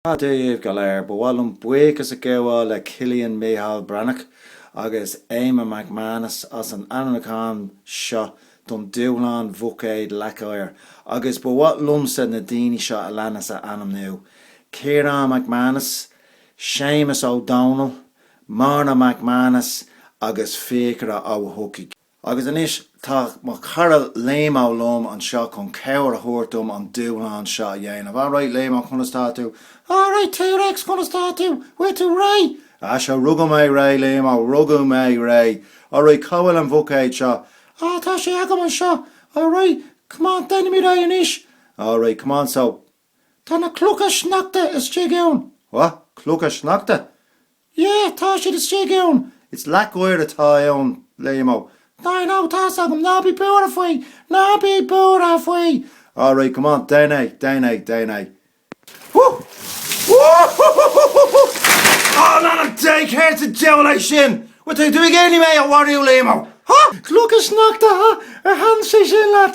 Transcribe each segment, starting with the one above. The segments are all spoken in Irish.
Dia daoibh go léir, ba mhaith liom buíochas a ghabháil le Cillian Micheál Breathnach agus Éamonn McManus as an ainmniúchán seo don Dúshlán Bhuicéad Leac Oighir agus ba mhaith liomsa na daoine seo a leanas a ainmniú, Ciarán McManus, Séamus Ó Dónaill, Morna McManus agus Fiachra Ó hEochaidh. Agus anois tá mo chara Liamo liom anseo chun cabhair a thabhairt dom an dúshlán seo a dhéanamh. Alright, Liamo, conas tá tú? Alright, T-Rex, conas tá tú? Bhfuil tú réidh? Ah, sure, rugadh mé réidh, Liamo, rugadh mé réidh. Alright, cá bhfuil an buicéad seo? Ah, tá sé agam anseo. Alright, come on, déanfaimid é anois. Alright, come on, so. Tá na clocha sneachta istigh ann. What? Clocha sneachta? Yeah, tá siad istigh ann. It's leac oighir atá ann, Liamo. No, I know, tá's agam, ná bí buartha faoi, ná bí buartha faoi! All right, come on, déan é, déan é, déan é. Whoo! Whoo-hoo-hoo-hoo-hoo-hoo! Oh, in ainm Dé, céard sa diabhal é sin? Bhfuil tú ag iarraidh mé a mharú, Liamo? Huh? Clocha sneachta, huh? Ar thaitin sé sin leat?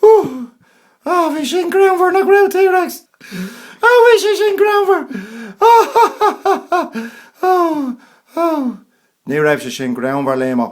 Hú! Á, bhí sin greannmhar, nach raibh, T-Rex? Á, bhí sé sin greannmhar! Á, ha, ha, ha, ha, ha! Ó, ó! Ní raibh sé sin greannmhar, Liamo.